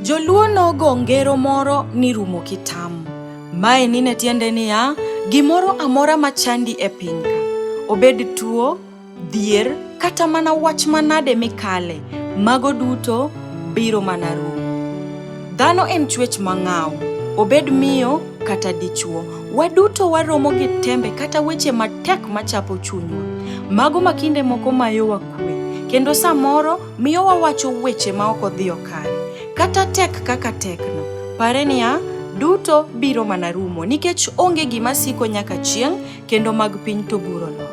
Joluo nogo ngero moro ni rumo kitam. Mae nine tiende niya, gimoro amora machandi e pinyka, obed tuo, Dhier kata mana wach manade mikale, mago duto biro mana rumo. Dhano en chwech mang'aw, obed miyo kata dichwo. Waduto waromo gi tembe kata weche matek machapo chunywa. Mago ma kinde moko mayowa kwe, kendo samoro miyo wawacho weche ma ok odhiyo kare. Kata tek kaka tekno, pare niya, duto biro mana rumo nikech onge gima siko nyaka chieng' kendo mag piny to guro nono.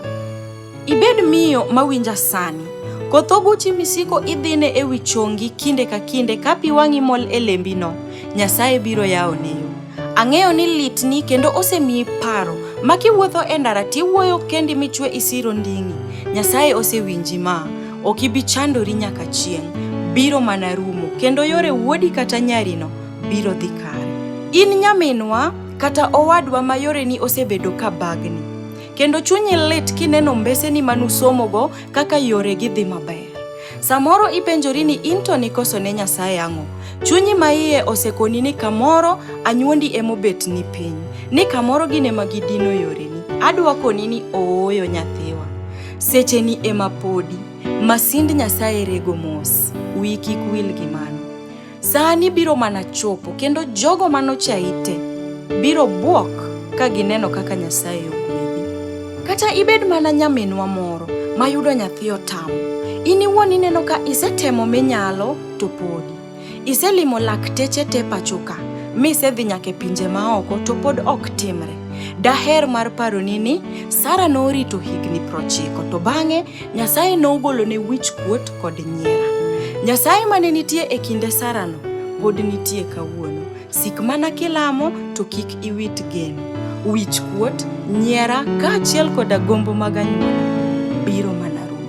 Ibed miyo mawinja sani. Koth oguchi misiko idhine e wi chongi kinde ka kinde ka pi wang'i mol e lembino, Nyasaye biro yawo neyo. Ang'eyo ni litni kendo osemiyi paro ma kiwuotho e ndara tiwuoyo kendi michwe isiro nding'i. Nyasaye osewinji ma, ok ibi chandori nyaka chieng'. Biro mana rumo kendo yore wuodi kata nyarino biro dhi kare. In nyaminwa kata owadwa ma yoreni osebedo ka bagni, kendo chunyi lit kineno mbeseni ma nusomogo kaka yoregi dhi maber. Samoro ipenjori ni in to nikoso ne Nyasaye ang'o? Chunyi ma iye osekoni ni kamoro anyuondi emobet ni piny, ni kamoro gin ema gidino yoreni. Adwa koni ni ooyo nyathiwa, secheni ema podi, masind Nyasaye rego mos. Wiyi kik wil gi mano. Sani biro mana chopo kendo jogo manochayi te biro bwok ka gineno kaka Nyasaye ogwedhi. Kata ibed mana nyaminwa moro mayudo nyathi otamo, in iwuon ineno ka isetemo minyalo to podi. Iselimo lakteche te pachoka, misedhi nyaka e pinje maoko to pod ok timre. Daher mar paroni ni Sara norito higni prochiko to bang'e Nyasaye nogolone wich kuot kod nyiera. Nyasaye mane nitie e kinde Sarano pod nitie kawuono. Sik mana kilamo to kik iwit geno. Wich kuot, nyiera kaachiel koda gombo mag anyuola biro mana rumo.